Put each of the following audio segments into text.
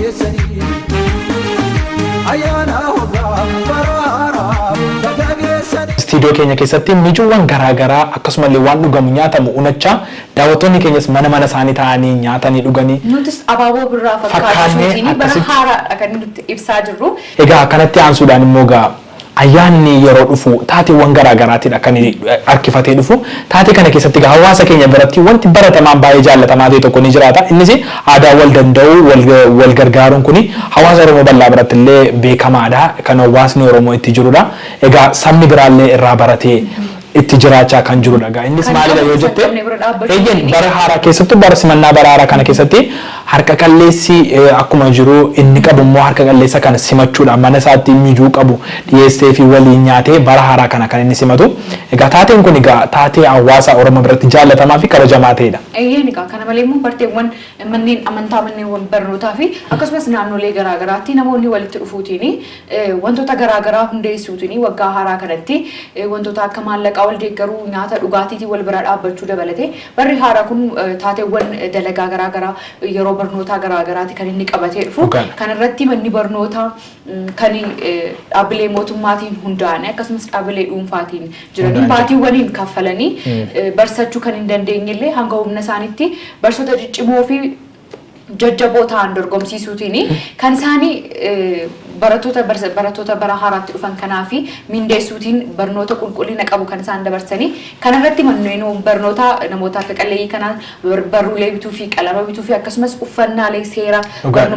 keessanii ayyaana hoggaa baraaraa baga geessanii. Istiidiyoo keenya keessatti micuuwwan garaa garaa akkasumallee waan dhugamu nyaatamu unachaa daawwattoonni keenyas mana mana isaanii taa'anii nyaatanii dhuganii Nutis abaaboo birraa fakkaatu Fakkaannee suutiin bara akkasitti- haaraadha kan nuti ibsaa jirru. Egaa kanatti aansuudhaan immoo egaa Ayyaanni yeroo dhufu taateewwan garaa garaatiidha kan harkifatee dhufu. Taatee kana keessatti egaa hawaasa keenya biratti wanti baratamaan baay'ee jaallatamaa ta'e tokko ni jiraata. Innis aadaa wal danda'uu, wal gargaaruun kuni hawaasa Oromoo bal'aa biratti illee beekamaadha. Kan hawaasni Oromoo itti jirudha. Egaa sabni biraallee irraa baratee itti jiraachaa kan jirudha egaa innis Kan maalidha qabne yoo isa hin jette qabne bira dhaabbachuu hin eeyyeen dandeenye. bara haaraa keessattuu bara simannaa bara haaraa kana keessatti harka qalleessi eh, akkuma jiru inni qabu immoo harka qalleessa kana simachuudha mana isaatti mijuu qabu dhiyeessee fi waliin nyaatee bara haaraa kana kan inni simatu egaa taateen kun egaa taatee hawaasa oromoo biratti jaallatamaa fi kabajamaa ta'edha. Eeyyeen egaa kana malee immoo barteewwan manneen amantaa manneewwan barnootaa fi akkasumas naannolee garaagaraatti namoonni walitti dhufuutiin Wantoota garaa garaa hundeessuutiin waggaa haaraa kanatti wantoota akka maallaqaa wal deeggaruu, nyaata dhugaatiitiin wal bira dhaabbachuu dabalatee barri haaraa kun taateewwan dalagaa garaa garaa yeroo barnootaa garaa garaati kan inni qabatee dhufu. Dhugaadha. Kana irratti manni barnootaa kan dhaabbilee mootummaatiin hundaa'anii akkasumas dhaabbilee dhuunfaatiin jiranii Hundaan baatiiwwaniin kaffalanii barsachuu kan hin dandeenye illee hanga humna isaaniitti barsoota ciccimoo fi jajjaboo ta'an dorgomsiisuutiin kan isaanii barattoota barattoota bara haaraatti dhufan kanaa fi mindeessuutiin barnoota qulqullina qabu kan isaan dabarsanii kana irratti manneen barnoota namoota harka qalleeyyii kanaan barruulee bituu fi qalama bituu fi akkasumas uffannaalee seera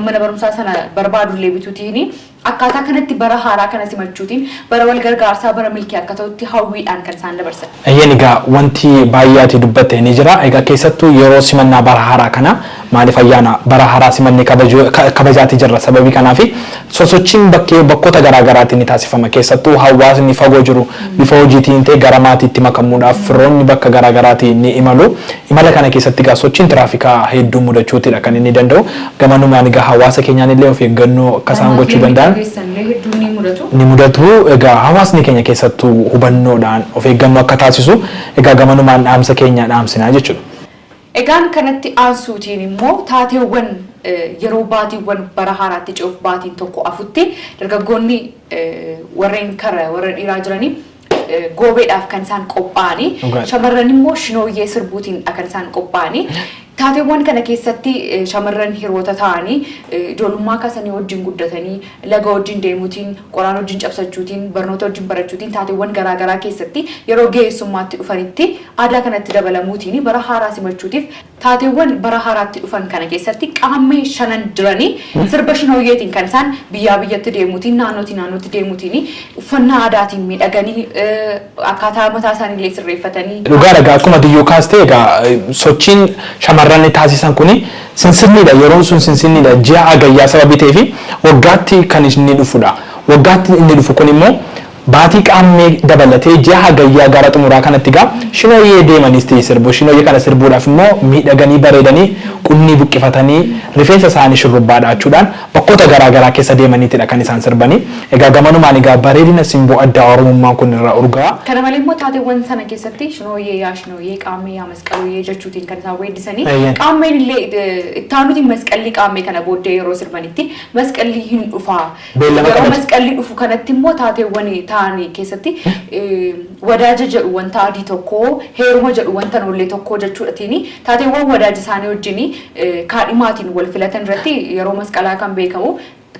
mana barumsaa sana barbaadullee bituutiin Akkaataa kanatti bara haaraa kana simachuutiin bara wal gargaarsaa, bara milkii akka ta'utti hawwiidhaan kan isaan dabarsan. Eeyyeen egaa wanti baay'ee ati dubbatte ni jira. Egaa keessattuu yeroo simannaa bara haaraa kana maaliif ayyaana bara haaraa simannee kabajuu kabajaati jirra sababii kanaafi sosochiin bakkee bakkoota garaa garaatti ni taasifama keessattuu hawaasni fagoo jiru bifa hojiitiin ta'e gara maatiitti makamuudhaaf firoonni bakka garaa garaati ni imalu imala kana keessatti egaa sochiin tiraafikaa hedduu mudachuutidha kan inni danda'u Gamanumaan egaa hawaasa keenyaan illee of eeggannoo akka isaan Kanaaf gochuu yommuu danda'an dhageessan illee hedduun ni mudatu. ni mudatu. Egaa hawaasni keenya keessattuu hubannoodhaan of eeggannoo akka taasisu egaa gamanumaan dhaamsa keenya dhaamsina jechuudha. Egaan kanatti aansuutiin immoo taateewwan yeroo baatiiwwan bara haaraatti ce'uuf baatiin tokko afutti dargaggoonni warreen kara warra dhiiraa jiranii goobeedhaaf kan isaan qophaa'anii Dhugaadha. shamarran immoo shinooyyee sirbuutiin kan isaan qophaa'anii taateewwan kana keessatti eh, shamarran hiroota ta'anii eh, ijoollummaa kaasanii wajjin guddatanii laga wajjin deemuutiin qoraan wajjin cabsachuutiin barnoota wajjin barachuutiin taateewwan garaagaraa keessatti yeroo ga'eessummaatti dhufanitti aadaa kanatti dabalamuutiin bara haaraa simachuutiif Taateewwan bara haaraatti dhufan kana keessatti qaammee shanan jiranii sirba shinooyyeetiin kan isaan biyyaa biyyatti deemuutiin naannootii naannootti deemuutiini uffannaa aadaatiin miidhaganii akkaataa mataa isaanii illee sirreeffatanii. Dhugaadha egaa akkuma ati iyyuu kaaste egaa sochiin shamarranni taasisan kuni sinsinniidha yeroon sun sinsinniidha ji'a agayyaa sababii ta'eefi waggaatti kan inni dhufudha. Waggaatti inni dhufu kunimmoo. Baatii Qaammee dabalatee ji'a Hagayyaa gara xumuraa kanatti egaa Shinooyyee deemaniis ta'e sirbu. Shinooyyee kana sirbuudhaaf immoo miidhaganii bareedanii qunnii buqqifatanii rifeensa isaanii shurrubbaa dha'achuudhaan bakkoota garaa garaa keessa deemaniitidha kan isaan sirbani. Egaa gamanumaan egaa bareedina simboo addaa Oromummaan kun irraa urgaa'a. Kana malee immoo taateewwan sana keessatti Shinooyyee yaa Shinooyyee, Qaammee yaa Masqalooyyee jechuutiin kan isaan weeddisani. Eeyyeen. Qaammeen illee itti aanuutiin Masqallii Qaammee kana booddee yeroo sirbanitti Masqallii hin dhufaa, Beellama Yeroo qabate. masqalli dhufu kanatti immoo taateewwan ta'an keessatti wadaaja jedhu wanta adii tokko, heeruma jedhu wanta noollee tokko jechuudhatiin taateewwan wadaaji isaanii wajjin kaadhimaatiin wal filatan irratti yeroo masqalaa kan beekamu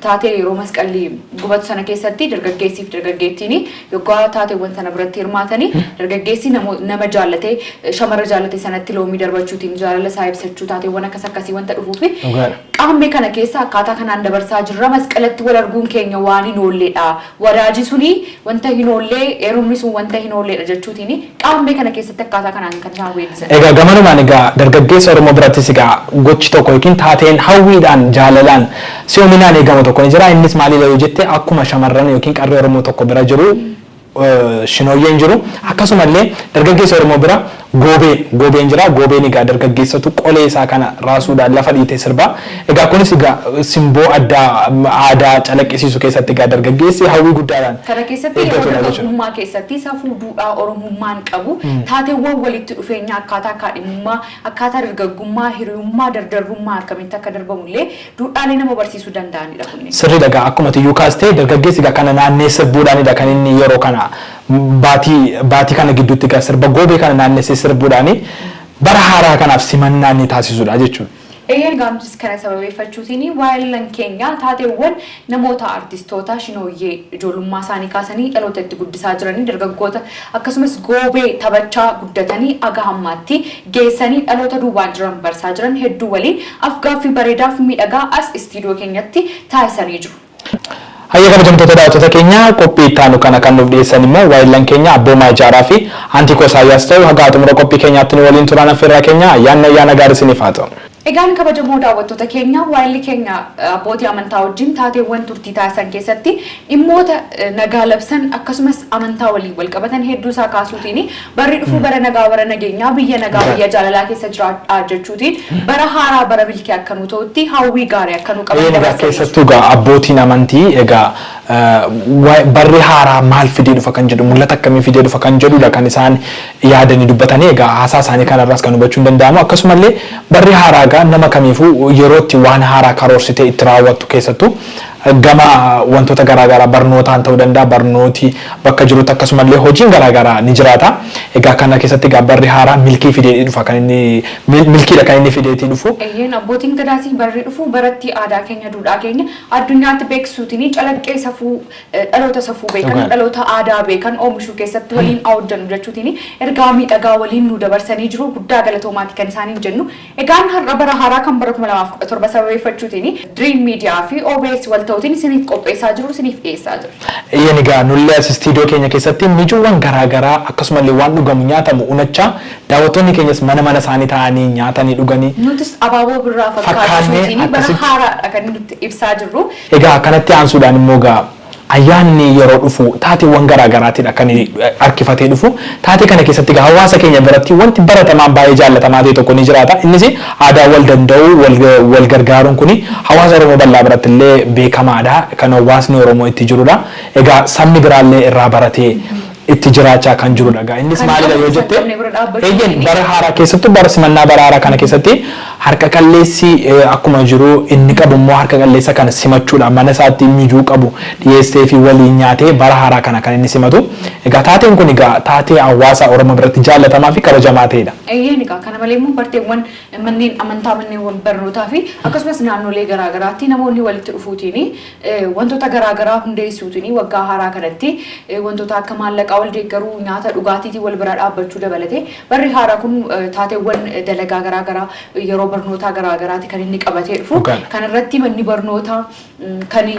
taatee yeroo masqalli gubatu sana keessatti dargaggeessiif dargaggeettiin yoggaa taateewwan sana biratti hirmaatanii dargaggeessi namo- nama jaallatee shamarra jaallate sanatti loomii darbachuutiin jaalala isaa ibsachuu taateewwan akkas akkasii wanta dhufuufi Dhugaadha. Qaammee kana keessa akkaataa kanaan dabarsaa jirra. Masqalatti wal arguun keenya waan hin oolleedha. Wadaaji sun wanta hin oolle, heerumni sun wanta hin oolleedha jechuutiin Qaammee kana keessatti akkaataa kanaan kan isaan weeddisan. Egaa gamanumaan egaa dargaggeessa Oromoo birattis egaa gochi tokko yookiin taateen hawwiidhaan, jaalalaan, si'oominaan eegamu tokko ni jira. Innis maalidha yoo jette akkuma shamarran yookiin qarree Oromoo tokko bira jiru Shinooyyeen jiru. Akkasuma illee dargaggeessa Oromoo bira Goobeen, Goobeen jira. Goobeen egaa dargaggeessatu qolee isaa kana raasuudhaan lafa dhiitee sirba. Egaa kunis egaa simboo addaa aadaa calaqqisiisu keessatti egaa dargaggeessi hawwii guddaadhaan Kana keessatti yeroo eeggatudha jechuudha. dargaggummaa keessatti safuu duudhaa Oromummaan qabu taateewwan walitti dhufeenya akkaataa kaadhimummaa, akkaataa dargaggummaa, hiriyummaa, dardarrummaa akkamitti akka darbamu illee Duudhaalee nama barsiisuu danda'anidha kunneen. Sirriidha egaa akkuma ati iyyuu kaaste dargaggeessi egaa kana naanneessa buudhaanidha kan inni yeroo kana baatii baatii kana gidduutti egaa sirba goobee kana naannessee sirbuudhaani bara haaraa kanaaf simannaa inni taasisudha jechuudha. Eeyyeen egaa nutis kana sababeeffachuutiin waayillan keenya taateewwan Namoota artistoota shinooyyee ijoolummaa isaanii kaasanii dhaloota itti guddisaa jiranii dargaggoota akkasumas goobee tabachaa guddatanii aga hammaatti geessanii dhaloota duubaan jiran barsaa jiran hedduu waliin af-gaaffii bareedaa fi miidhagaa as istiidiyoo keenyatti taasisanii jiru. Hayyee kabajamtoota daawwattoota keenya qophii itti aanu kana kan nuuf dhiyeessan immoo waayillan keenya Abboomaa Ijaaraa fi Antiikoo Isaayyaas ta'u hagaa xumura qophii keenyaatti nu waliin turaan affeerraa keenya ayyaanni ayyaana gaarii isiniif haa ta'u. Egaan kabajamoo daawwattoota keenya, waayilli keenya abbootii amantaa wajjin taateewwan turtii taasisan keessatti dhimmoota nagaa labsan akkasumas amantaa waliin walqabatan hedduu isaa kaasuutiin barri dhufuu bara nagaa bara nageenyaa, biyya nagaa biyya jaalalaa keessa jiraadhaa jechuutiin bara haaraa bara milkii akka nuu ta'utti hawwii gaarii akka nuu qaban Eeyyeen egaa dabarsaniiru. keessattuu egaa abbootiin amantii egaa eh, wa- barri haaraa maal fidee dhufa kan jedhu mul'ata akkamii fidee dhufa kan jedhudha kan isaan yaadanii dubbatanii egaa haasaa isaanii kana irraas kan hubachuun danda'amu akkasuma illee barri haaraa egaa nama kamiifuu yeroo itti waan haaraa karoorsitee itti raawwattu keessattuu gama wantoota garaa garaa barnootaan ta'uu danda'a barnooti bakka jirutti akkasuma illee hojiin garaa garaa ni jiraata egaa kana keessatti egaa barri haaraa milkii fideetii dhufa kan inni mil- milkiidha kan inni fideetii dhufu Eeyyeen abbootiin gadaas barri dhufu baratti aadaa keenya duudhaa keenya addunyaatti beeksisuutiin calaqqee safuu Dhaloota safuu beekan, Dhugaadha. dhaloota aadaa beekan oomishuu keessatti waliin haa hojjennu jechuutiin ergaa miidhagaa waliin nuu dabarsanii jiru. Guddaa galatoomaati kan isaaniin jennu. Egaan har'a bara haaraa kan bara 2017 sababeeffachuutiin Dream Media fi OBS wal ta'uutiin isiniif qopheessaa jiru, isiniif dhiyeessaa jirra. Eeyyeen egaa nullee as istiidiyoo keenya keessatti micuuwwan garaa garaa akkasumallee waan dhugamu nyaatamu unachaa daawwattoonni keenyas mana mana isaanii taa'anii nyaatanii dhuganii Nutis abaaboo birraa fakkaatu fakkaannee suutiin bara akkasitti haaraadha kan nutti ibsaa jirru. Egaa kanatti aansuudhaan immoo egaa ayyaanni yeroo dhufu taateewwan garaa garaatiidha kan harkifatee dhufu. Taatee kana keessatti egaa hawaasa keenya biratti wanti baratamaan baay'ee jaallatamaa ta'e tokko ni jiraata. Innis aadaa wal danda'uu, wal gargaaruun kuni hawaasa Oromoo bal'aa biratti illee beekamaadha. Kan hawaasni Oromoo itti jirudha. Egaa sabni biraa illee irraa baratee itti jiraachaa kan jirudha egaa innis Kan maalidha qabu yoo isa hin jette qabne bira dhaabbachuu hin eeyyeen dandeenye. bara haaraa keessattuu bara simannaa bara haaraa kana keessatti harka qalleessi eh, akkuma jiru inni qabu immoo harka qalleessa kana simachuudha mana isaatti mijuu qabu dhiyeessee fi waliin nyaatee bara haaraa kana kan inni simatu egaa taateen kun egaa taatee hawaasa oromoo biratti jaallatamaa fi kabajamaa ta'edha. Eeyyeen egaa kana malee immoo barteewwan manneen amantaa manneewwan barnootaa fi akkasumas naannolee garaagaraatti namoonni walitti dhufuutiin Wantoota garaa garaa hundeessuutiin waggaa haaraa kanatti wantoota akka maallaqaa wal deeggaruu, nyaata dhugaatiitiin wal bira dhaabbachuu dabalatee barri haaraa kun taateewwan dalagaa garaa garaa yeroo barnootaa garaa garaati kan inni qabatee dhufu. Dhugaadha. Kana irratti manni barnootaa kan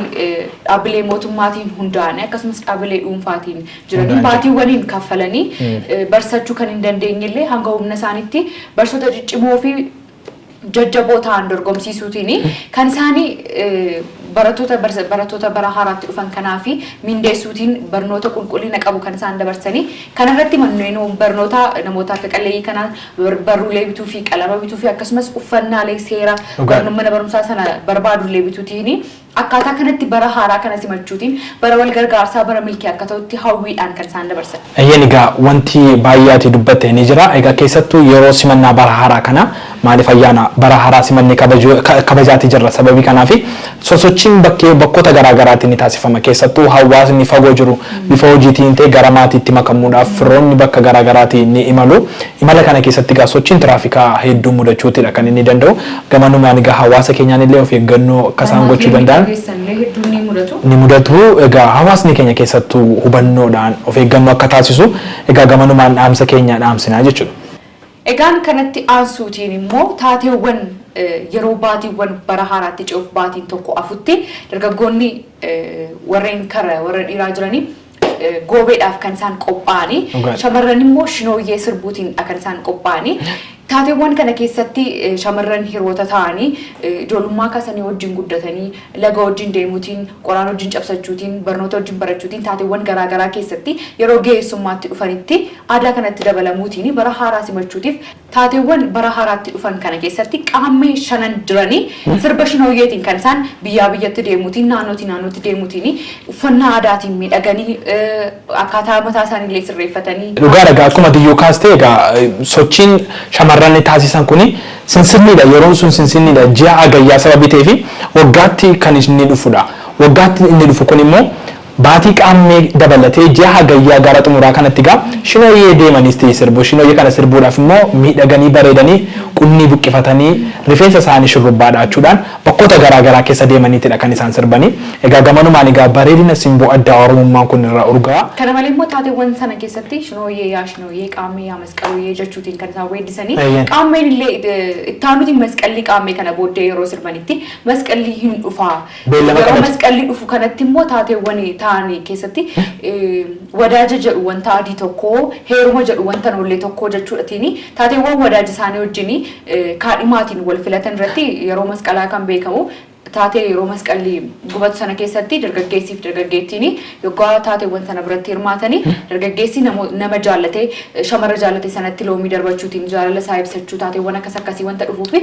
dhaabbilee mootummaatiin hundaa'anii akkasumas dhaabbilee dhuunfaatiin jiranii Hundaa'anii. baatiiwwaniin kaffalanii barsachuu kan hin dandeenye illee hanga humna isaaniitti barsoota ciccimoo fi jajjaboo ta'an dorgomsiisuutiin kan isaan barattoota barattoota bara haaraatti dhufan kanaa fi mindeessuutiin barnoota qulqullina qabu kan isaan dabarsanii kana irratti manneen barnoota namoota harka qalleeyyii kanaan barruulee bituu fi qalama bituu fi akkasumas uffannaalee seera mana barumsaa sana barbaadullee bituutiin Akkaataa kanatti bara haaraa kana simachuutiin bara wal gargaarsaa, bara milkii akka ta'utti hawwiidhaan kan isaan dabarsan. Eeyyeen egaa wanti baay'ee ati dubbatte ni jira. Egaa keessattuu yeroo simannaa bara haaraa kana maaliif ayyaana bara haaraa simannee kabajuu kabajaati jirra sababii kanaafi sosochiin bakkee bakkoota garaa garaatti ni taasifama keessattuu hawaasni fagoo jiru bifa hojiitiin ta'e gara maatiitti makamuudhaaf firoonni bakka garaa garaati ni imalu imala kana keessatti egaa sochiin tiraafikaa hedduu mudachuutidha kan inni danda'u Gama numaan egaa hawaasa keenyaan illee of eeggannoo akka isaan Kanaaf gochuu yoo danda'an miidhageessan illee hedduun ni mudatu. ni mudatu. Egaa hawaasni keenya keessattuu hubannoodhaan of eeggannoo akka taasisu egaa gamanumaan dhaamsa keenya dhaamsina jechuudha. Egaan kanatti aansuutiin immoo taateewwan yeroo baatiiwwan bara haaraatti ce'uuf baatiin tokko afutti dargaggoonni warreen kara warra dhiiraa jiranii goobeedhaaf kan isaan qophaa'anii Dhugaadha. shamarran immoo shinooyyee sirbuutiin kan isaan qophaa'anii taateewwan kana keessatti eh, shamarran hiroota ta'anii eh, ijoollummaa kaasanii wajjin guddatanii laga wajjin deemuutiin qoraan wajjin cabsachuutiin barnoota wajjin barachuutiin taateewwan garaagaraa keessatti yeroo ga'eessummaatti dhufanitti aadaa kanatti dabalamuutiin bara haaraa simachuutiif Taateewwan bara haaraatti dhufan kana keessatti qaammee shanan jiranii sirba shinooyyeetiin kan isaan biyyaa biyyatti deemuutiin naannootii naannootti deemuutiini uffannaa aadaatiin miidhaganii akkaataa mataa isaanii illee sirreeffatanii. Dhugaadha egaa akkuma ati iyyuu kaaste egaa sochiin shamarran taasisan kun sinsinniidha yeroon sun sinsinniidha ji'a agayyaa sababii ta'eefi waggaatti kan inni dhufudha. Waggaatti inni dhufu kun immoo Baatii Qaammee dabalatee ji'a Hagayyaa gara xumuraa kanatti egaa Shinooyyee deemaniis ta'e sirbu. Shinooyyee kana sirbuudhaaf immoo miidhaganii bareedanii qunnii buqqifatanii rifeensa isaanii shurrubbaa dha'achuudhaan bakkoota garaa garaa keessa deemaniitidha kan isaan sirbanii. Egaa gamanumaan egaa bareedina simboo addaa Oromummaan kun irraa urgaa'a. Kana malee immoo taateewwan sana keessatti Shinooyyee yaa Shinooyyee, Qaammee yaa Masqaluuyee jechuutiin kan isaan weeddisanii. Eeyyeen. Qaammeen illee itti aanuutiin Masqallii Qaammee kana booddee yeroo sirbanitti Masqallii hin dhufaa, Beellama Yeroo qabate. masqalli dhufu kanatti immoo taateewwan ta'an keessatti wadaaja jedhu wanta adii tokko, heeruma jedhu wanta noollee tokko jechuudhatiin taateewwan wadaaji isaanii wajjin kaadhimaatiin wal filatan irratti yeroo masqalaa kan beekamu taatee yeroo masqalli gubatu sana keessatti dargaggeessii fi dargaggeettiin Yoggaa taateewwan sana biratti hirmaatanii dargaggeessi nama jaallate, shamarra jaallate sanatti loomii darbachuutiin jaalala isaa ibsachuu taateewwan akkas akkasii wanta dhufuufi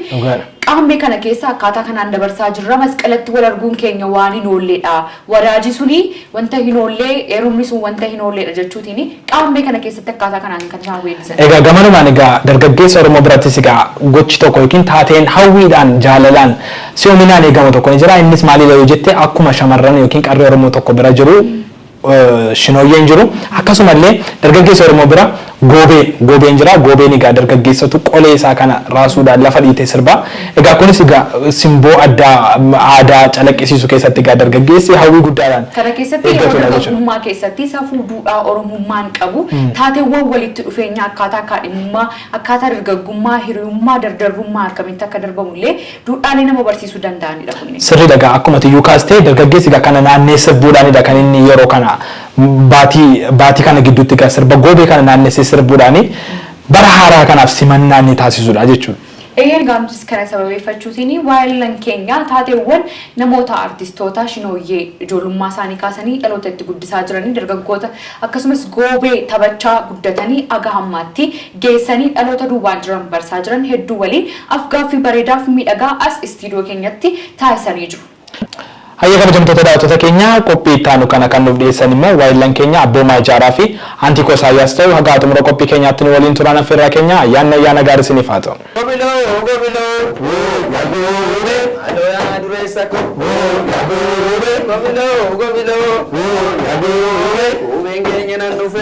qaammee kana keessa akkaataa kanaan dabarsaa jirra masqalatti wal arguun keenya waan hin oolleedha. Wadaajii suni wanta hin oollee, heerumni sun wanta hin oolleedha jechuutiin Qaammee kana keessatti akkaataa kanaan kan isaan weellisan. Egaa gamanumaan egaa dargaggeessa Oromoo birattis egaa gochi tokko yookiin taateen hawwiidhaan, jaalalaan, si'ominaan eegamu tokko ni jira. Innis maalidha yoo jette akkuma shamarran yookiin qarree Oromoo tokko bira jiru shinooyyeen jiru. Akkasuma illee dargaggeessa Oromoo bira goobee, goobeen jira. Goobeen egaa dargaggeessatu qolee isaa kana raasuudhaan lafa dhiitee sirba. Egaa kunis egaa simboo addaa aadaa calaqqisiisu keessatti egaa dargaggeessi hawwii guddaadhaan Kana keessatti yeroo eeggatudha jechuudha. dargaggummaa keessatti safuu duudhaa Oromummaan qabu, taateewwan walitti dhufeenyaa akkaataa kaadhimummaa, akkaataa dargaggummaa, hiriyummaa, dardarrummaa akkamitti akka darbamu illee duudhaalee nama barsiisuu danda'ani dha kunneen. Sirrii dha egaa akkuma ati iyyuu kaaste dargaggeessi egaa kana naanneessa buudhaani dha kan inni yeroo kana baatii baatii kana gidduutti egaa sirba goobee kana naannessee sirbuudhaani bara haaraa kanaaf simannaa inni taasisu dha jechuu dha. Eeyyeen gaamchis kana sababeeffachuutiin waayellan keenya taateewwan namoota artistoota shinooyyee ijoolummaa isaanii kaasanii dhaloota itti guddisaa jiranii dargaggoota akkasumas goobee tabachaa guddatanii aga hammaatti geessanii dhaloota duubaan jiran barsaa jiran hedduu waliin afgaaffii bareedaaf miidhagaa as istiidiyoo keenyatti taasisanii jiru. Hayyee kabajamtoota daawwattoota keenya qophii itti aanu kana kan nuuf dhiyeessan immoo waayillan keenya Abboomaa Ijaaraa fi Antiikoo Isaayyaas ta'u hagaa xumura qophii keenyaatti nu waliin turaan affeerraa keenya ayyaanni ayyaana gaarii isiniif haa ta'u. Gobiloo gobiloo hoo yaa goobee. Maaloo yaa dureessa koo hoo yaa goobee. Gobiloo gobiloo hoo yaa goobee. Goobeen keenya nan dhufe.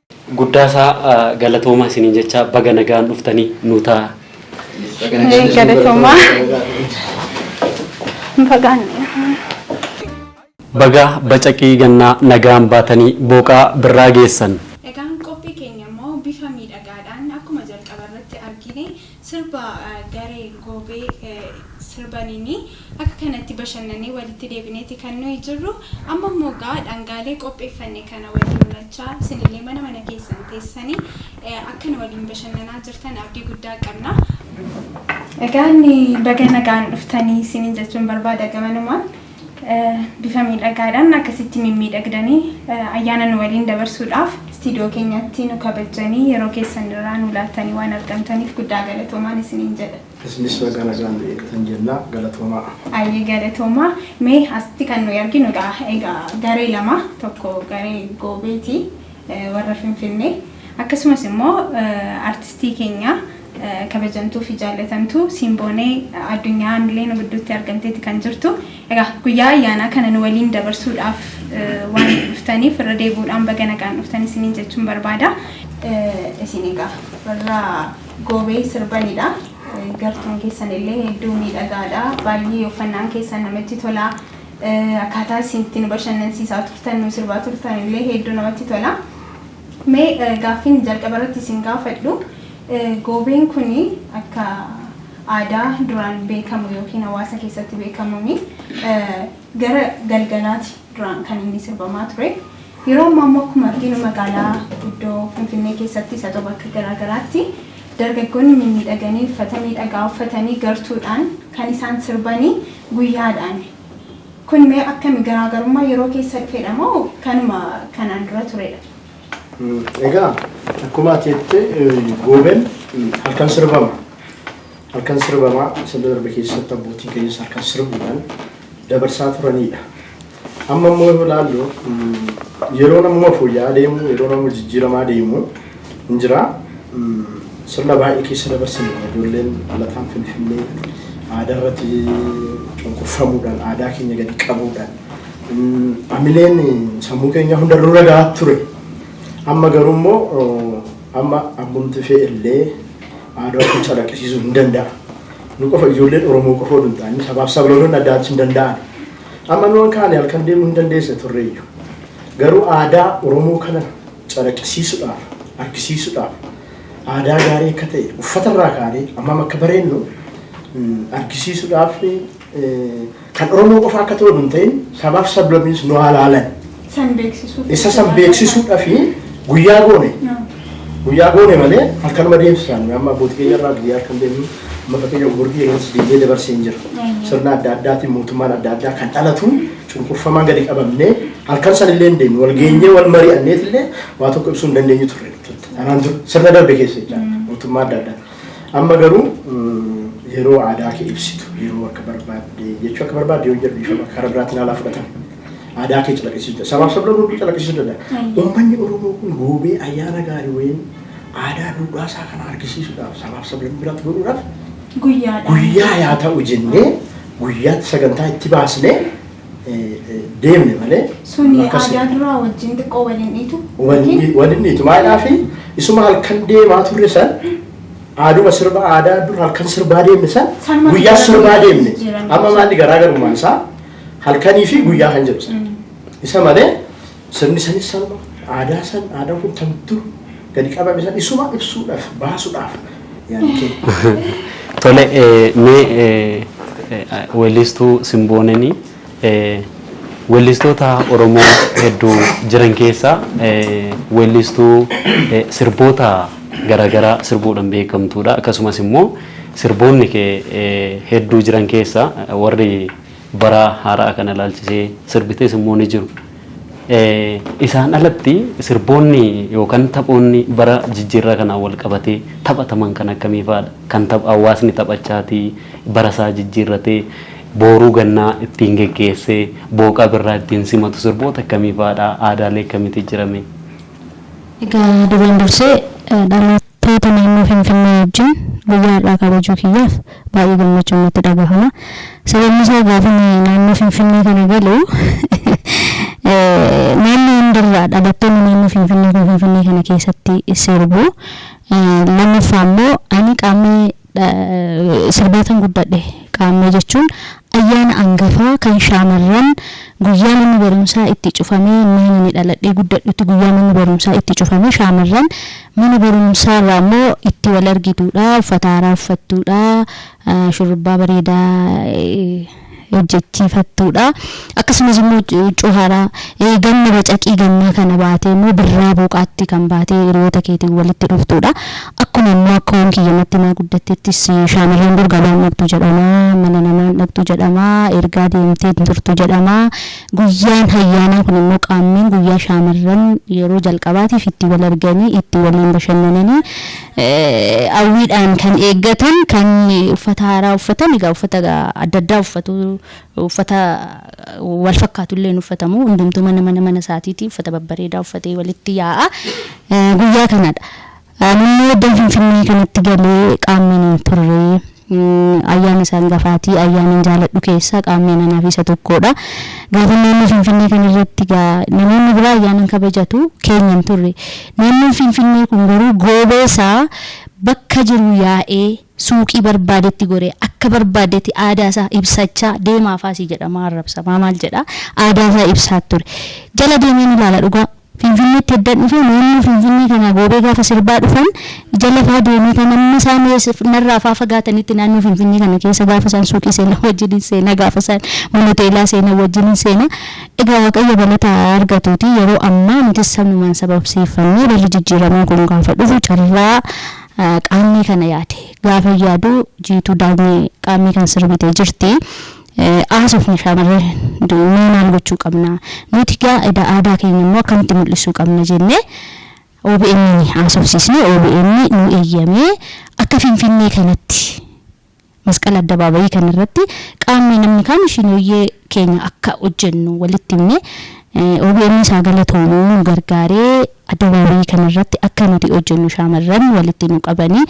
Guddaa isaa galatoomaa isiniin jechaa baga nagaan dhuftanii nuu taa. Galatoomaa. Bagaan. Bagaa bacaqii gannaa nagaan baatanii booqaa birraa geessan. Egaan qophii keenya immoo bifa miidhagaadhaan akkuma jalqaba irratti argine Sirba garee Goobee sirbaniini akka kanatti bashannanee walitti deebineeti kan nuyi jirru. Amma immoo egaa dhangaalee qopheeffanne kana waliin unachaa isinillee mana mana keessan teessani akka nu waliin bashannanaa jirtan abdii guddaa qabna. Egaa inni baga nagaan dhuftanii isiniin jechuun barbaada gamanumaan. Bifa miidhagaadhaan akkasitti mimmiidhagdanii ayyaana nu waliin dabarsuudhaaf istiidiyoo keenyatti nu kabajjanii yeroo keessan irraa nu laattanii waan argamtaniif guddaa galatoomaan isiniin jedha. Isinis baga nagaan nu eegatan jenna. Galatoomaa. Ayyee galatoomaa. Mee asitti kan nuyi arginu egaa egaa garee lama tokko garee Goobeeti warra Finfinnee akkasumas immoo artistii keenya kabajamtuu fi jaallatamtuu Simboonee addunyaa Miliyoona gidduutti argamteetti kan jirtu. Egaa guyyaa ayyaanaa kana nu waliin dabarsuudhaaf waan dhuftaniif irra deebi'uudhaan baga nagaan dhuftan isiniin jechuun barbaada. Isin egaa warra goobee sirbanidha. Gartuun keessan illee hedduu miidhagaadha. Baay'ee uffannaan keessan namatti tolaa. Akkaataa isin itti nu bashannansiisaa turtan, nu sirbaa turtan illee hedduu namatti tola. Mee gaaffiin jalqaba irratti isin gaafadhu, goobeen kun akka aadaa duraan beekamu yookiin hawaasa keessatti beekamuun gara galgalaati duraan kan inni sirbamaa ture. Yeroo ammaa immoo akkuma arginu magaalaa guddoo Finfinnee keessattis haa ta'u bakka garaa garaatti Dargaggoonni mimmiidhaganii uffata miidhagaa uffatanii gartuudhaan kan isaan sirbanii guyyaadhaani. Kun mee akkami garaagarummaa yeroo keessa dhufedha moo kanuma kanaan dura turedha? Egaa akkuma ati jette Gooben halkan sirbama. Halkan sirbama sirna darbe keessatti abbootiin keenyas halkan sirbuudhaan dabarsaa turanidha. Amma immoo yoo ilaallu yeroon amma fooyya'aa deemu, yeroon amma jijjiiramaa deemu hin jira. Sirna baay'ee keessa dabarsine kana ijoolleen dhalataan Finfinnee aadaa irratti cunqurfamuudhaan, aadaa keenya gadi qabuudhaan amileen sammuu keenyaa hunda nurra gahaa ture. Amma garuu immoo amma abbumti fee illee aadaa ofii calaqqisiisuu hin danda'a. Nu qofa ijoolleen Oromoo qofa oduu hin taane sabaaf sablammoonni adda addaa hin danda'an. Amma nuan kaane halkan deemuu hin dandeesne turreeyyu. Garuu aadaa Oromoo kana calaqisiisudhaaf, argisiisudhaaf aadaa gaarii akka ta'e uffata irraa kaanee ammam akka bareennu argisiisudhaaf kan Oromoo qofa akka ta'u hin ta'in sabaaf sablabiins nu haa laalan. San beeksisuuf. Isa san beeksisuudha fi guyyaa goone. Guyyaa goone malee halkanuma deemsisaan amma abbootii keenya irraa biyya harkan deemu amma fakkeenya umurtii yerootti deemee dabarsee hin jira. Sirna adda addaatiin mootummaan adda addaa kan dhalatu cunqurfamaan gadi qabamnee halkan san illee hin deemne wal geenyee wal mari'anneet illee waa tokko ibsuu hin dandeenyu turre. Anaan dur sirna darbe keessa jecha mootummaa adda addaa. Amma garuu mm, yeroo aadaa kee ibsitu yeroo akka barbaadde jechuu akka barbaadde yoo jedhu dhiifama karaa biraatiin haala fudhatan. Aadaa kee calaqqisiisuu danda'a. Sabaaf sablammoota hedduu calaqqisiisuu danda'a. Ayya. Uummanni Oromoo kun goobee ayyaana gaarii wayiin aadaa duudhaa isaa kana argisiisuudhaaf sabaaf sablammii biraatti godhuudhaaf Guyyaadhaan. guyyaa yaa ta'u jennee guyyaatti sagantaa itti baasnee eh, eh, deemne malee Suni akkas aadaa duraa wajjin xiqqoo waliin dhiitu. Yookiin Walinni tumaadhaa fi isuma halkan deemaa turre san aaduma sirba aadaa dur halkan sirbaa deemne san Sanuma guyyaa sirbaa sirbaa deemne jijjiirame. amma maalli garaagarummaan isaa Halkanii fi guyyaa kan jedhu sana. Isa malee sirni sanis sanuma aadaa san aadaa kun kan dur gadi qabame san isuma ibsuudhaaf baasuudhaaf yaani kee. Tole eh, mee eh, eh, weellistuu Simboonanii eh, weellistoota Oromoo hedduu jiran keessaa eh, weellistuu eh, sirboota garaagaraa sirbuudhaan beekamtuudha. Akkasumas immoo sirboonni kee eh, hedduu jiran keessaa eh, warri Bara haara'a kana ilaalchisee sirbites immoo ni jiru. Isaan alatti sirboonni yookaan taphoonni bara jijjiirraa kanaan wal qabatee taphataman kan akkamii fa'aadha? Kan hawaasni taphachaatii bara isaa jijjiirratee booruu gannaa ittiin geggeessee booqaa birraa ittiin simatu sirboota akkamii fa'aadha? Aadaalee akkamiitu jira mee? Egaa duraan dursee dhaloota. Taatee naannoo Finfinnee wajjin guyyaa har'aa kabajuu kiyyaaf baay'ee gammachuun natti dhagahama. Sababni isaa gaafan naannoo Finfinnee kana galu naannoo hundarraa dhalattoonni naannoo Finfinnee kun Finfinnee kana keessatti sirbu. Lammaffaa immoo ani qaamni Sirbaataan guddadhe. Qaammee jechuun ayyaana angafaa kan shaamarran guyyaa manni barumsaa itti cufamee innaan ani dhaladhee guddadhutti guyyaa manni barumsaa itti cufamee shaamarran mana barumsaa irraa immoo itti wal argituudha uffata haaraa uffattuudha shurrubbaa bareedaa hojjechiifattuudha. Akkasumas immoo huccuu haaraa ganna bacaqii gannaa kana baatee immoo birraa booqaatti kan baatee hiriyoota keetiin walitti dhuftuudha. Akkuma immoo akka waan kiyya natti naa guddatteettis shaamarreen dur gabaa hin dhaqxu jedhama, mana namaa hin dhaqxu jedhama, ergaa deemtee hin turtu jedhama. Guyyaan hayyaanaa kun immoo qaammeen guyyaa shaamarran yeroo jalqabaatiif itti wal arganii itti waliin bashannananii hawwiidhaan kan eeggatan kan uffata haaraa uffatan egaa uffata adda addaa uffatu uffata wal fakkaatu illee hin uffatamu hundumtuu mana mana mana isaatiiti uffata babbareedaa uffatee walitti yaa'a guyyaa kanadha. Ani immoo iddoo Finfinnee kanatti galee qaamni hin turre. Ayyaana isaan gafaatii ayyaanan jaaladhu keessaa qaammeen anaaf isa tokkoodha. Gaafan naannoo Finfinnee kana irratti egaa namoonni biraa ayyaanan kabajatu keenya hin turre. Naannoon Finfinnee kun garuu goobee isaa bakka jiru yaa'ee suuqii barbaadetti goree akka barbaadetti aadaa isaa ibsachaa deemaa faasii jedhamaa arrabsamaa maal jedhaa aadaa isaa ibsaa ture. Jala deemeen ilaala dhugaa Finfinneetti eddan dhufe naannoo Finfinnee kanaa goobee gaafa sirbaa dhufan ija lafaa deemee kan amma isaan narraa faa fagaatanitti naannoo Finfinnee kana keessa gaafa isaan suuqii seenan wajjinin seena gaafa isaan mana hoteelaa seenan wajjinin seena egaa Waaqayyo galata haa argatuutii yeroo ammaa nutis sanumaan sababsiiffannee barri jijjiiramaa kun gaafa dhufu carraa Qaammee kana yaade gaafan yaadu Jiituu Daanyee Qaammee kan sirbite jirti Haasofne shaamarran mee maal gochuu qabna? Nuti gaa edaa aadaa keenya immoo akkamitti mul'isuu qabna jenne OBN ni haasofsiisne. OBN nu eeyyamee akka Finfinnee kanatti Masqal Addabaabayii kana irratti qaamni namni kaami shinooyyee keenya akka hojjennu walitti himne. OBNs haa galatoomu nu gargaaree. Addabaabayii kana irratti akka nuti hojjennu shaamarran walitti nu qabani.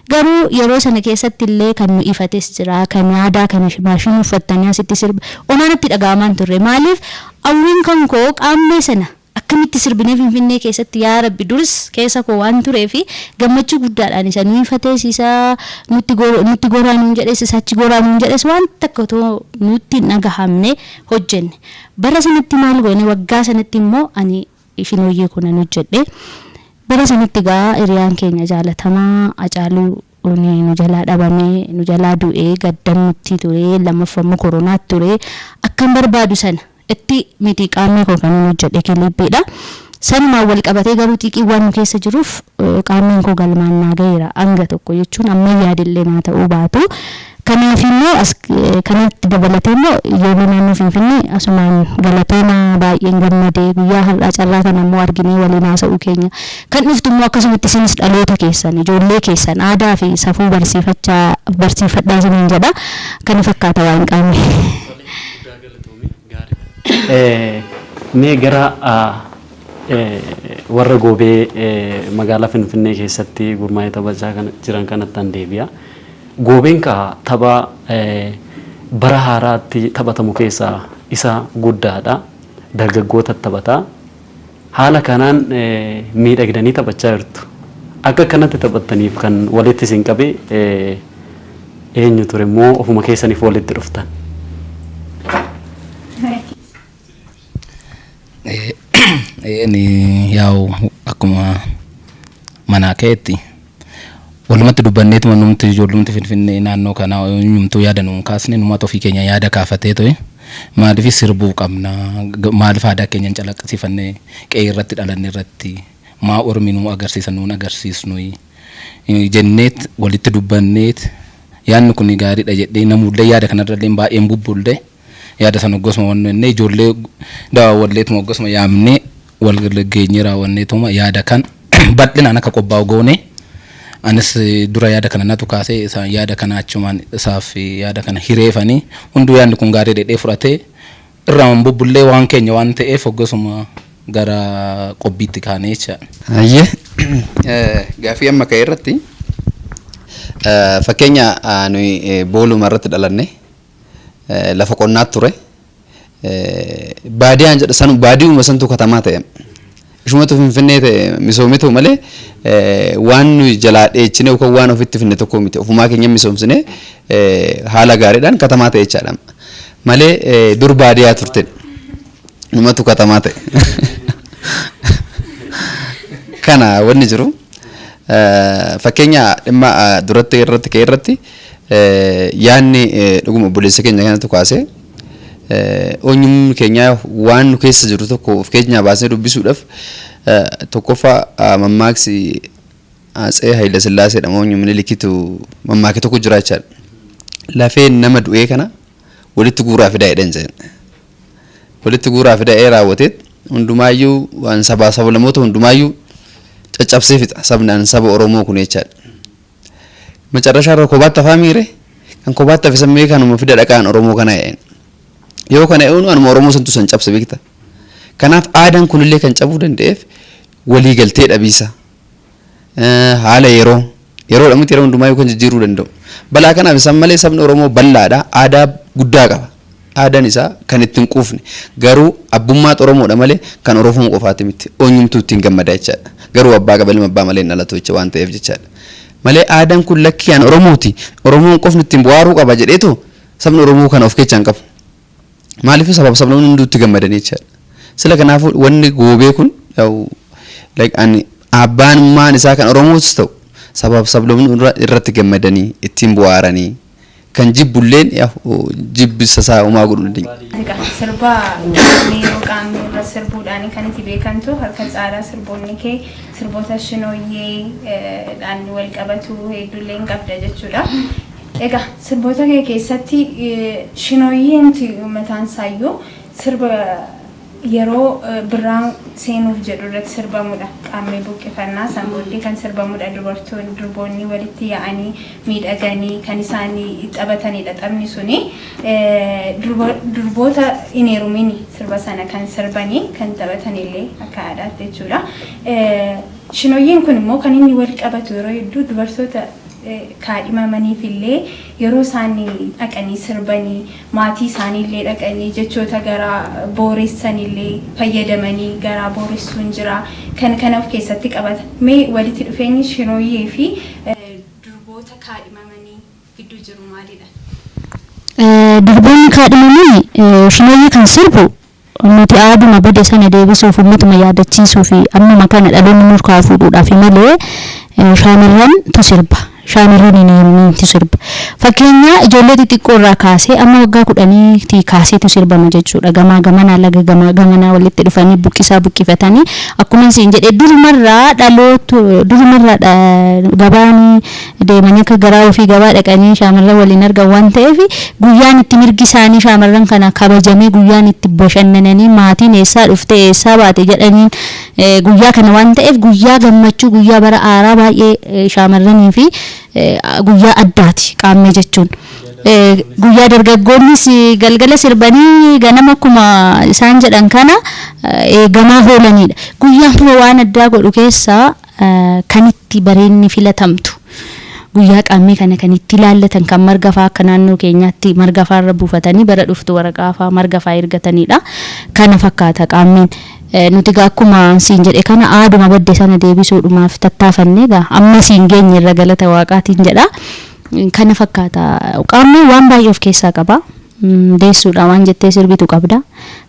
Garuu yeroo sana keessatti illee kan nu ifates jira. Kan aadaa kana maashinii uffattanii asitti sirba homaa natti dhaga'amaa hin turre. Maaliif hawwiin kan koo Qaammee sana akkamitti sirbinee Finfinnee keessatti yaa Rabbi durs keessa koo waan tureef gammachuu guddaadhaan isa nu ifates isa nutti nutti goraa nuun jedhes isa achi goraa nuun jedhes waan takka otoo nutti hin dhagahamne hojjenne. Bara sanatti maal goone waggaa sanatti immoo ani Shinooyyee koo nan hojjedhe. Bara sanitti egaa hiriyaan keenya jaalatamaa Hacaaluun nu jalaa dhabame, nu jalaa du'e, gaddan nutti ture, lammaffaa immoo koronaatu ture. Akkan barbaadu sana itti miti qaammee koo kanan hojjedhe kiliippiidha. Sanumaan wal qabatee garuu xiiqiin waan nu keessa jiruuf qaammeen koo galmaan naa gaheera hanga tokko jechuun amman yaade illee naa ta'uu baatu Kanaafi immoo as kanatti dabalatee immoo ijoollee naannoo Finfinnee asumaan galatoomaa baay'een gammade guyyaa har'aa carraa kana immoo arginee waliin haasa'uu keenya. Kan dhuftu immoo akkasumatti isinis dhaloota keessan, ijoollee keessan aadaa fi safuu barsiifachaa barsiifadhaa isiniin jedha. Kana fakkaata waa'een Qaamee. Tole guddaa galatoomi gaariidha. Mee gara warra Goobee magaalaa Finfinnee keessatti gurmaa'ee taphachaa jiran kanattan deebi'a. Goobeen kaa tapha bara haaraatti taphatamu keessaa isa guddaadha. Dargaggootatu taphata. Haala kanaan miidhagdanii taphachaa jirtu. Akka akkanatti taphattaniif kan walitti isin qabe eenyu ture immoo ofuma keessaniif walitti dhuftan? Eeni yaa'u akkuma manaa keetti walumatti dubbanneetuma numti ijoollumti finfinnee naannoo kanaa eenyumtuu yaada nuun kaasne numaatu ofii keenya yaada kaafatee ta'e maaliif sirbuu qabna Ga- maaliif aadaa keenya hin calaqqisiifannee qe'ee irratti dhalanne irratti maa ormi nuu agarsiisa nuun agarsiisnuyi Eh, jenneet walitti dubbanneet yaadni kun gaariidha jedhee namuullee yaada kanarrallee baay'een bubbullee Yaada sana hoggasuma wannennee ijoollee dawaa walleetuma hoggasuma yaamnee wal geenyee raawwanneetuma yaada kan bal'inaan akka qophaa'u goonee anis dura yaada kana natu kaasee isaan yaada kana achumaan isaaf yaada kana hireefanii hunduu yaadni kun gaarii dhedhee fudhatee irraa hin bubbullee waan keenya waan ta'eef hoggasuma gara qophiitti kaanee jecha. Hayyee gaaffii amma ka'e irratti fakkeenya nuyi booluma irratti dhalanne lafa qonnaat ture. Baadiyaan jedha sanu baadiyuma santu katamaa ta'e. Ishumatu finfinnee ta'e misoometu malee waan nuyi jalaa dheechine yookaan waan ofitti finne tokko miti. Ofumaa keenya misoomsine haala gaariidhaan katamaa ta'e jechaadha. Malee dur baadiyaa turte. Numatu katamaa ta'e. Kana wanni jiru fakkeenya dhimma duratti irratti ka'e irratti Yaadni dhuguma obboleessa keenya kanatu kaase eenyumni keenya waan nu keessa jiru tokko of keenyaa baasnee dubbisuudhaaf tokkoffaa mammaaksi Atsee Hayilasillaasee dha moo Minilikitu mammaake tokko jira jechaadha. Lafee nama du'ee kana walitti guuraa fidaa jedhan jedhan. Walitti guuraa fidaa ee raawwatee hundumaayyuu waan sabaa sablamoota hundumaayyuu caccabsee fixa sabnaan saba Oromoo kun jechaadha. Macarrashaa irra kobaatti hafaa miire kan kobaatti hafe san mee kanuma fida dhaqaan Oromoo kana e'een. Yoo kana e'uun anuma Oromoo santu san cabse beekta. Kanaaf aadaan kunillee kan cabuu danda'eef walii galtee dhabiisa. Haala yeroo yeroodha miti yeroo hundumaa yoo kan jijjiiruu danda'u. Balaa kanaaf isaan malee sabni Oromoo bal'aadha aadaa guddaa qaba. Aadaan isaa kan itti hin quufne. Garuu abbummaa Xoromoodha malee kan Orofom qofaati miti. Oonyumtuu ittiin gammada jechaadha. Garuu abbaa qaba ilma abbaa malee hin dhalatu jecha waan ta'eef jechaadha. Malee aadaan kun lakkii an Oromooti, Oromoon qofni ittiin bu'aaruu qaba jedheetu sabni Oromoo kana of keechaa hin qabu. Maaliif sabaaf sablamni hunduu itti gammadanii jechaadha. Sila kanaafuu wanni goobee kun yaa'u like an abbaan maan isaa kan Oromootis ta'u sabaaf sablamni irratti gammadanii ittiin bu'aaranii. Kan jibbulleen jibbisa isaa homaa godhuu hin dandeenye. Egaa sirba qaamni yeroo qaamni irra sirbuudhaan kan itti beekamtu harka caalaa sirboonni kee sirboota shinooyyee dhaan wal qabatu hedduullee hin qabda jechuudha. Egaa sirboota kee keessatti shinooyyee miti mataan isaa iyyuu sirba Yeroo birraan seenuuf jedhu irratti sirbamudha. Qaammee buqqifannaa san booddee kan sirbamudha. Dubartoonni, durboonni walitti yaa'anii miidhaganii kan isaan taphatanidha taphni suni. Durboota hin heerumiin sirba sana kan sirbanii kan taphatanillee akka aadaatti jechuudha. Shinoyyeen kun immoo kan inni wal qabatu yeroo hedduu dubartoota kaadhimamaniifillee yeroo isaan dhaqanii sirbanii maatii isaaniillee dhaqanii jechoota garaa booressanillee fayyadamanii garaa booressuun jira. Kan kana of keessatti qabata. Mee walitti dhufeenyi Shirooyyee fi durboota kaadhimamanii gidduu jiru maalidha? Durboonni kaadhimaman Shinooyyee kan sirbu Nuti aaduma bade sana deebisuuf ummatuma yaadachiisuufi. Ammuma kana dhaloonni nurkaa fuudhuudhaafi malee shaamirran tu sirba. Shaamirran hin heerumiin tu sirba. Fakkeenya ijoollee xixiqqoo irraa kaasee amma waggaa kudhanii tii kaasee tu sirbama jechuudha. Gamaa gamanaa laga gamaa gamanaa walitti dhufanii buqqisaa buqqifatanii akkuman siin jedhe durumarraa dhaloot durumarraa dha gabaani deemanii akka garaa ofii gabaa dhaqanii shaamarran waliin argan waan ta'eef guyyaan itti mirgi isaanii shaamarran kanaa kabajamee guyyaan itti bashannananii maatiin eessaa dhufte eessaa baate jedhaniin guyyaa kana waan ta'eef guyyaa gammachuu guyyaa bara haaraa baay'ee shaamarranii fi guyyaa addaati qaammee jechuun. Guyyaa dargaggoonnis galgala sirbanii ganama akkuma isaan jedhan kana eegamaa oolanidha. Guyyaan waan addaa godhu keessaa kan itti bareedni filatamtu guyyaa qaammee kana kan itti ilaallatan kan marga faa akka naannoo keenyaatti marga faa irra buufatanii bara dhuftu waraqaa faa marga faa ergataniidha kana fakkaata qaammeen nuti gaa akkuma siin jedhe kana aaduma badde sana deebisuudhumaaf tattaafannee gaa amma siin geenye irra galata waaqaatiin jedha kana fakkaata qaammeen waan baay'ee of keessaa qaba deessuudha waan jettee sirbitu qabda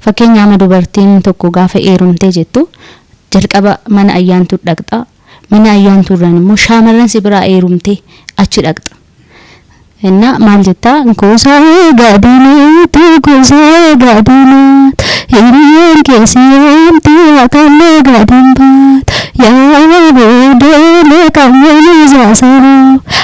fakkeenya ama dubartiin tokko gaafa eerumtee jettu Jalqaba mana Ayyaantuu dhaqxa. Mana Ayyaantuu irraan immoo shaamarran si biraa eerumtee achi dhaqxa. Innaa maal jettaa? Gosaa gaadinatu gosaa gaadinat hiriyyaan kee si yaamti haqallee gaadin baat yaa boodee meeqan yoomii zaasaroo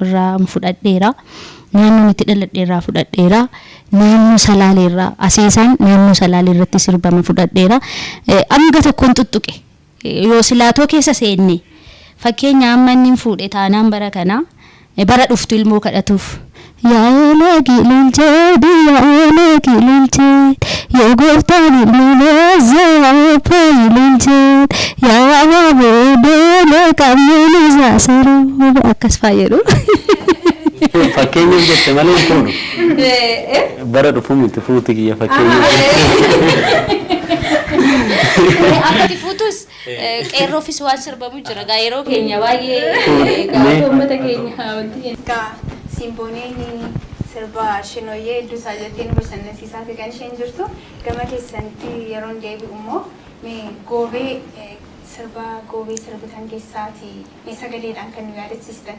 irraan fudhadheera. Naannoon itti dhaladhe irraa fudhadheera. Naannoo Salaalee irraa Aseesaan naannoo Salaalee irratti sirbame fudhadheera. Eh, Hanga tokkoon tuttuqe. Eh, Yoo silaatoo keessa seenne fakkeenya amma inni hin fuudhe taanaan bara kana eh, bara dhuftu ilmoo kadhatuuf. Yaa eelee gililchee biyya eelee gililchee Yaa gooftaa lilmiloosaa faayi lilchaan yaa abaaboo doola qabnee nuusaa saroo akkas faa jedhu. Fakkeenyaaf jette malee hin fuudhu. Bara dhufu miti fuuti kiyya fakkeenyaaf. Akka itti fuutus Eh, Qeerroofis waan sirbamu jira. Gaa yeroo keenya baay'ee gaa akka uummata keenya wanti jennu. Egaa simbooneen sirba shinooyyee hedduu isaa jettee nu bashannansiisaati kan isheen jirtu. Gama keessanitti yeroon deebi'u immoo mee goobee eh, sirba goobee sirbitan keessaati mee sagaleedhaan kan nu yaadachiistan.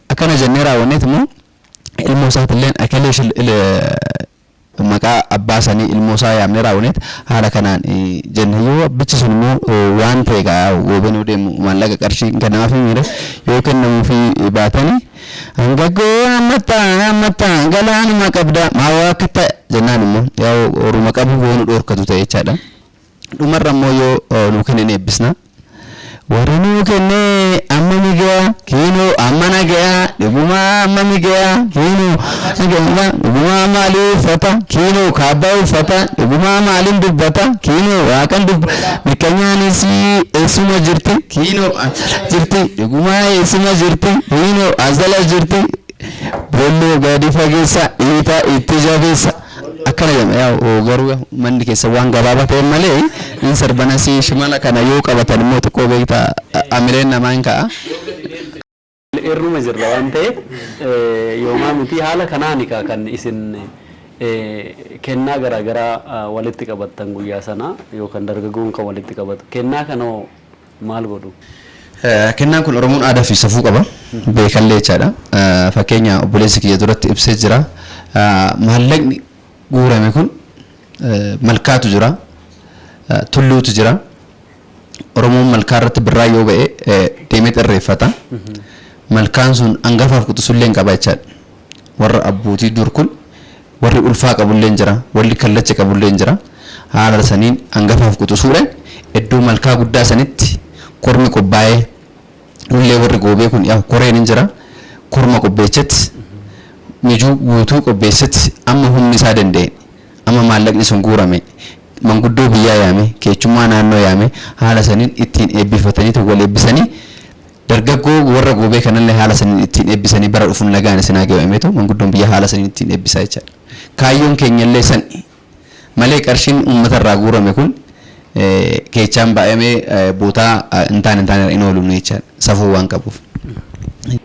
Akkana jennee raawwanneeti immoo ilmoo isaatilleen ekelee shil maqaa abbaa sanii ilmoo isaa yaamnee raawwaneeti haala kanaan jenne yoo abbichi sun immoo waan ta'e egaa woobeen yoo deemu maallaqa qarshii hin kennamaafii miire yoo kennamuufii baatanii hangaggoo hammatta hammatta galaanuma qabda maa waa akka ta'a jennaan immoo yaa horuma qabu yoo nu dhoorkatu ta'e jechaadha. Dhumarra immoo yoo nuu kenne ni eebbisna. Warra nuu kenne ammami gaya kiinoo ammana gaya dhugumaa ammami gaya kiinoo gaya dhugumaa maalii uffata kiinoo kaabbaa uffata dhugumaa maaliin dubbata kiinoo waaqan dubbata mikkanyaanis eessuma jirti kiinoo asala jirti dhugumaa eessuma jirti kiinoo asala jirti bolloo gadi fageessa dhiitaa itti jabeessa. akkana jedhama yaa garuu manni keessan waan gabaabaa ta'eef malee in sarbanasii shimala kana yoo qabatan immoo xiqqoo beekta amileen namaa in ka'a. irruma jirra waan ta'eef yoomaa miti haala kanaani kaa kan isin kennaa garaa garaa walitti qabattan guyyaa sana yookaan dargaggoon kan walitti qabatu kennaa kanoo maal godhu? Kennaan kun Oromoon aadaa fi safuu qaba. Beekallee jechaadha. Fakkeenya obboleessi kiyya duratti ibsee jira. Maallaqni guurame kun malkaatu jira, tulluutu jira. Oromoon malkaa irratti birraa yoo ba'e deemeet irreeffata. Malkaan sun angafaaf quxusullee hin qaba jechaadha. Warra abbootii dur kun Warri ulfaa qabulleen jira. Walli kallacha qabulleen jira. Haala saniin angafaaf quxusuudhan eddoo malkaa guddaa sanitti kormi qophaa'ee nullee warri goobee kun yaa'u koreen hin jira. Korma qopheechet mijuu guutuu qopheesset amma humni isaa danda'een amma maallaqni sun guurameen manguddoo biyyaa yaamee keechummaa naannoo yaamee haala saniin ittiin eebbifataniitu wal eebbisanii Dargaggoo warra goobee kanallee haala saniin ittiin eebbisanii bara dhufun nagaan isin haa gayu ameeto manguddoon biyyaa haala saniin ittiin eebbisaa jechaadha. Kaayyoon keenyallee sani. Malee qarshiin uummata irraa guurame kun keechaan baay'amee bootaa hin taane hin taane irra hin oolu nuyi jechaadha. Safuu waan qabuuf.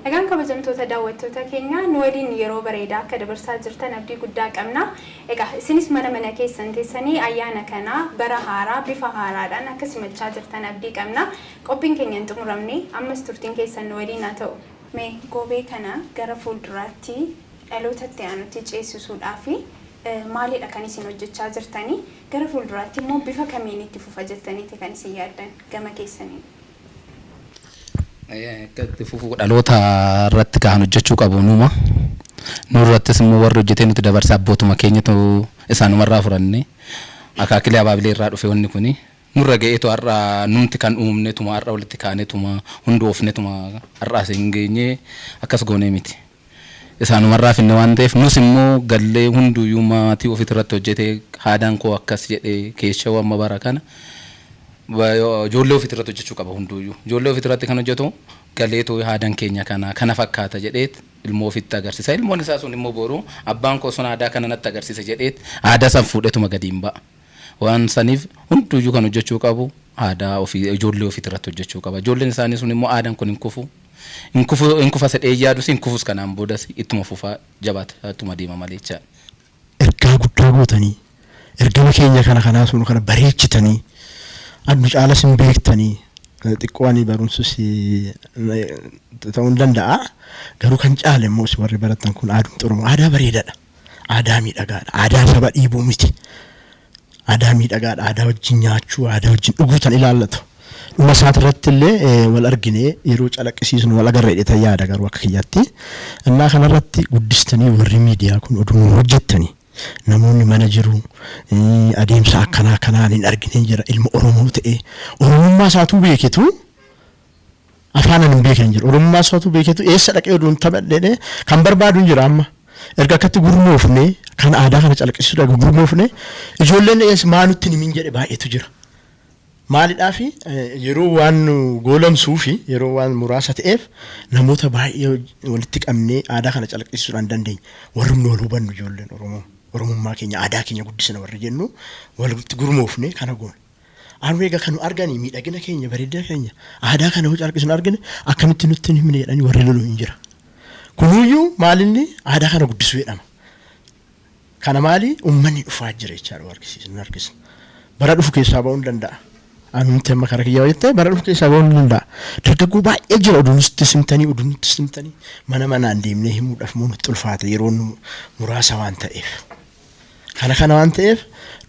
Egaan kabajamtoota daawwattoota keenyaa nu waliin yeroo bareedaa akka dabarsaa jirtan abdii guddaa qabna. Egaa isinis mana mana keessan teessanii ayyaana kana bara haaraa bifa haaraadhaan akka simachaa jirtan abdii qabna. Qophiin keenya hin xumuramne, ammas turtiin keessan nu waliin haa ta'u! Me Goobee kana gara fuulduraatti dhaloota itti aanutti ceesisuudhaaf maalidha kan isin hojjechaa jirtani? Gara fuulduraatti immoo bifa kamiin itti fufa jettaniiti kan isin yaaddan gama keessaniin? Akka itti fufu dhaloota irratti kan hojjechuu qabu numa. Nu irrattis immoo warri hojjetee nutti dabarse abbootuma keenyatu isaanumarraa fudhanne. Akaakilee abaabilee irraa dhufe wanni kuni. Nurra ga'etu har'a numti kan uumnetuma har'a walitti kaanetuma hundoofnetuma har'a asiin geenye akkas goonee miti. Isaanumarraa finne waan ta'eef nus immoo gallee hunduuyyuu maatii ofitirratti hojjetee haadaan koo akkas jedhe keeshoo amma bara kana ijoollee ofitirratti hojjechuu qaba hunduuyyuu. Ijoollee ofitirratti kan hojjetu galeetoo haadan keenya kana kana fakkaata jedheet ilmoo ofitti agarsiisa. Ilmoon isaa sun immoo boru abbaan koo sun aadaa kana natti agarsiise jedheet aadaa san fuudhetuma gadi hin ba'a. Waan saniif hunduuyyuu kan hojjachuu qabu aadaa ofii ijoollee ofii irratti hojjachuu qaba. Ijoolleen isaanii sun immoo aadaan kun hin kufu. Hin kufu hin kufa sedhee hin yaadus hin kufus kanaan boodas ittuma fufa jabaata ittuma deema malee jechaadha. Ergaa guddaa gootanii ergama keenya kana kanaa sun kana bareechitanii addu caalas hin beektanii xiqqoo ani barumsus ta'uu hin danda'a garuu kan caale immoo isin warri barattan kun aadumti Oromoo aadaa bareedaadha. Aadaa miidhagaadha. Aadaa saba dhiibuu miti. Aadaa miidhagaadha. Aadaa wajjin nyaachuu, aadaa wajjin dhuguu tan ilaallatu. Dhuma isaati irratti illee eh, wal arginee yeroo calaqqisiisnu wal agarra jedhetan yaada garuu akka kiyyaatti. Innaa kanarratti guddistanii warri miidiyaa kun oduu nu hojjettanii namoonni mana jiru eh, adeemsa akkanaa kanaan hin argineen jira ilma Oromoo ta'e Oromummaa isaatuu beeketu Afaan ani hin beekne hin jiru. Oromummaa isaatu beeketu eessa dhaqee oduu hin taphadhee kan barbaadu hin jira amma. Erga akkatti gurmoofne kan aadaa kana calaqisiisudha gurmoofne ijoolleen eessa maa nutti hin himin jedhe baay'eetu jira. Maalidhaafi yeroo waan nu goolamsuu fi yeroo waan muraasa ta'eef namoota baay'ee walitti qabnee aadaa kana calaqisiisuudhaan hin dandeenye. Warrumni wal hubannu ijoolleen Oromoo Oromummaa keenya aadaa keenya guddisna warri jennu walitti gurmoofne kana goone. Harmee egaa kan nu arganii miidhagina keenya bareedina keenya aadaa kana yoo calqisnu argine akkamitti nutti hin himne jedhanii warri lolu hin jira. Kunuyyuu maalinni aadaa kana guddisuu jedhama. Kana maali uummanni dhufaa jira jechaadha warqisiisa nu harkisna. Bara dhufu keessaa ba'uu hin danda'a. Anumti amma kara kiyyaa jettee bara dhufu keessaa ba'uu hin danda'a. Dargaggoo baay'ee jira oduu nutti simtanii oduu nutti simtanii mana manaan deemnee himuudhaaf moo nutti ulfaata yeroon muraasa waan ta'eef. Kana kana waan ta'eef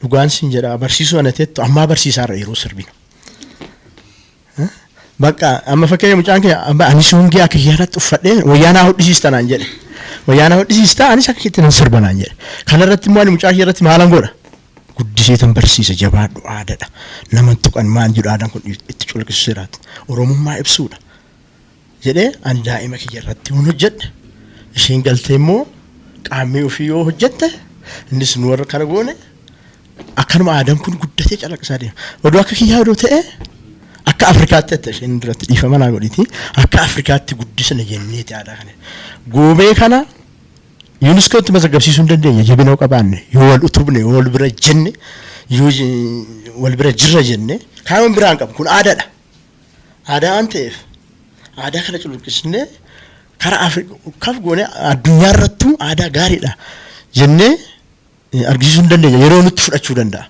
dhugaan siin jedha barsiisuu ana teettu ammaa barsiisaa irra yeroo sirbinu. Bakka amma fakkeenya mucaan kee amma ani soongee akka yaadatti uffadhee wayyaanaa hodhisiista naan jedhe. Wayyaanaa hodhisiista anis akka itti nan sirba naan jedhe. Kana irratti immoo ani mucaa kee irratti maalan godha? Guddisee tan barsiisa jabaadhu aadaadha. Naman tuqan maan jedhu aadaan kun itti culqisiseeraati. Oromummaa ibsuudha. jedhee an daa'ima kiyya irratti yoon hojjedhe isheen galtee immoo qaammee ofii yoo hojjette innis nu warra kana goone akkanuma aadaan kun guddatee calaqqisaa deema. Oduu akka kiyyaa oduu ta'e akka Afrikaatti jette isheen duratti dhiifama naa godhiti akka Afrikaatti guddisna jenneeti aadaa kana. Goobee kana yuuniskootti mazaggabsiisuu hin dandeenye jabina yoo qabaanne yoo wal utubne yoo wal bira jenne yoo wal bira jirra jenne kaayyoon biraa hin qabu kun aadaadha. Aadaa waan ta'eef aadaa kana culuqqisnee karaa Afrikaaf goone addunyaa irrattuu aadaa gaariidha jennee argisiisuu hin dandeenya. Yeroo nutti fudhachuu danda'a.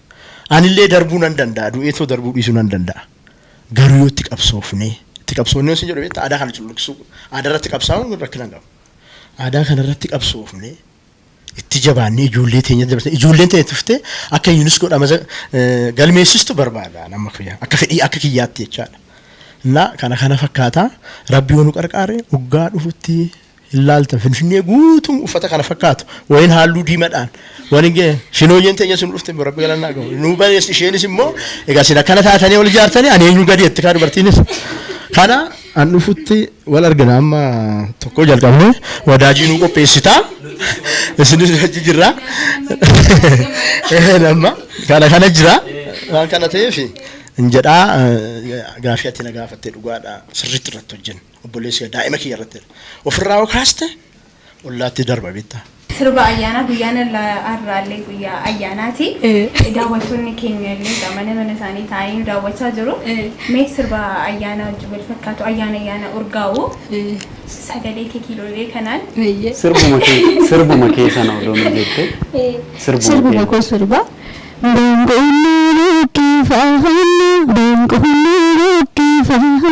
Anillee darbuu nan danda'a. Du'eetoo darbuu dhiisuu nan danda'a. Garuu yoo itti qabsoofne itti qabsoofne yoo isin jedhu beektaa aadaa kana culuqqisuu aadaa irratti qabsaa'uun rakkina hin qabu. Aadaa kana irratti qabsoofne itti jabaannee ijoollee teenya dabarsine ijoolleen teenya tuftee akka yuuniskoo dhamaza galmeessistu barbaada nama kiyya akka fedhii akka kiyyaatti jechaadha. Innaa kana kana fakkaata rabbi yoo nu qarqaare hoggaa dhufutti hin laaltan finfinnee guutuun uffata kana fakkaatu wayin halluu diimadhaan waliin ga'e shinooyyeen teenya sun dhufte rabbi galannaa gahu nu bareessi isheenis immoo egaa sin akkana taatanii ol ijaartanii ani eenyu gadi jetti kaa dubartiinis kana An dhufutti wal argina amma tokko jalqabne wadaajii nuu qopheessita isinis hojii jirra amma kana kana jira waan kana ta'eef hin jedhaa gaafii ati na gaafatte dhugaadha sirriitti irratti hojjenna obboleessi daa'ima kiyya irratti ofirraa hoo kaaste ollaatti darba beektaa. Sirba ayyaanaa guyyaan har'aallee guyyaa ayyaanaati. Daawwattoonni keenya illee egaa mana mana isaanii taa'anii nu daawwachaa jiru. Mee sirba ayyaanaa wajjin wal fakkaatu ayyaana ayyaana urgaa'u sagalee kee kiiloolee kanaan Sirbuma kee sirbuma kee sana odoo nu jette sirbuma Sirbuma kee. koo sirba. Boonqoonni buqqifamna, boonqoonni buqqifamna.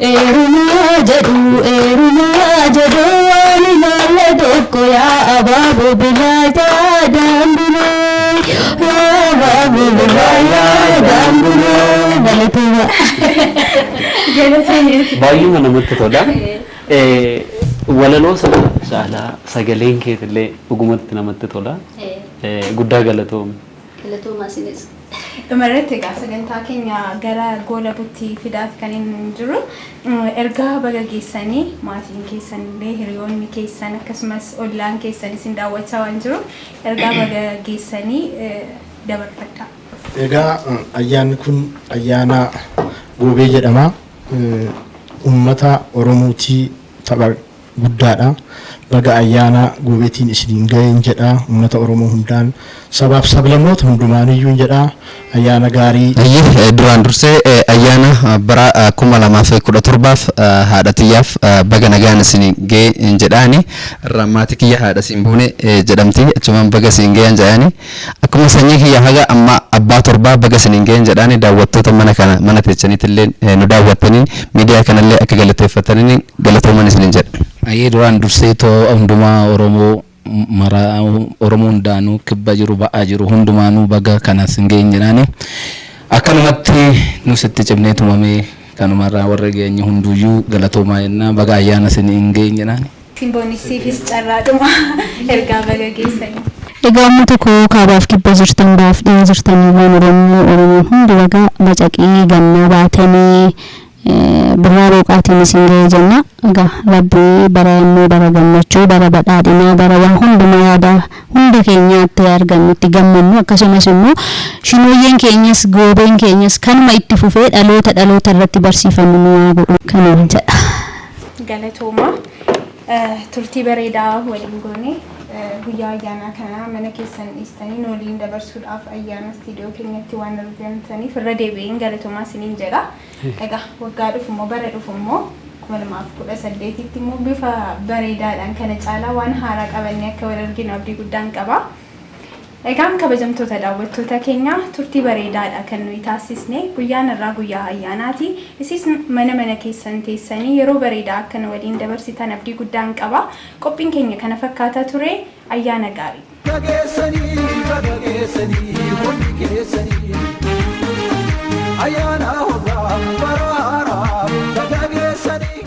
Eerumaa jedhuu eerumaa jedhuu waan ilaalle tokko yaa abaaboo biraa yaadaan buluu yaa abaaboo biraa yaadaan buluu galatoomaa. Baay'eema namatti tola. Eh, Walaloo sana caalaa sagaleen keetillee dhugumatti namatti tola. Eh, Guddaa galatoomi. Galatoomaa isinis. Dhuma irratti egaa sagantaa keenya gara goolabutti fidaati kanin jirru. Ergaa baga geessanii maatiin keessan illee hiriyoonni keessan akkasumas ollaan keessan isin daawwachaa waan jiruuf ergaa baga geessanii dabarfadhaa. Egaa ayyaanni kun ayyaana Goobee jedhama. Uummata Oromootii tapha. guddaadha. Baga Ayyaana Goobeetiin isiniin ga'een jedha Ummata Oromoo hundaan, Sabaaf Sablamoota hundumaaniyyuun jedha. Ayyaana gaarii. Hayyee duraan dursee ayyaana bara 2017f haadha tiyyaaf baga nagaan isin ga'e jedha ani irraan maatii kiyya haadha siinboonee jedhamti achumaan baga siin ga'e jedha ani. Akkuma sanyii kiyya haga amma abbaa torbaa baga isiniin ga'een jedhaani daawwattoota mana kana mana teechaniitilleen nu daawwattaniin miidiyaa kanallee akka galateeffattaniniin galatooman isiniin jedha. Hayyee duraan dursee too hundumaa oromoo maraa oromoo hundaanuu kibba jiru ba'aa jiru hundumaanuu baga kana isin ga'een jedhaani akkanumatti nus itti cimnee tumamee kanumarraa warri geenye hunduuyyuu galatoomaa jennaa baga ayyaana isiniin ga'een jedhaani. Simboniksiifis carraadhuma ergaa baga geessanii. Egaa ummata koo kaabaaf kibba jirtan bahaaf dhiha jirtan ilmaan oromoo oromoon hundi baga bacaqii gannaa baatanii birraa booqaatiin isin gahe jenna egaa rabbi bara yammuu bara gammachuu bara badhaadhinaa bara waa hundumaa yaada hunda keenyaa itti argannu itti gammannu akkasumas immoo shinooyyeen keenyas goobeen keenyas kanuma itti fufee dhaloota dhaloota irratti barsiifannu nu yaa godhu kanan jedha. galatoomaa turtii bareedaa waliin goone guyyaa ayyaanaa kanaa mana keessan dhiistanii nu waliin dabarsuudhaaf ayyaana istiidiyoo keenyatti waan argamtaniif irra deebi'een galatoomaa isiniin jedha. Egaa waggaa dhufu immoo bara dhufu immoo kuma lamaaf kudha saddeetitti immoo bifa bareedaadhaan kana caalaa waan haaraa qabannee akka wal arginu abdii guddaan qaba. Egaan kabajamtoota daawwattoota keenya turtii bareedaadha kan nuyi taassisne. Guyyaan har'aa guyyaa ayyaanaati. Isis mana mana keessan teessanii yeroo bareedaa akka nu waliin dabarsitan abdii guddaan qaba. Qophiin keenya kana fakkaata ture. Ayyaana gaarii! Baga geessanii baga geessanii hundi keessanii Ayyaana hoggaaf bara haaraaf baga geessanii.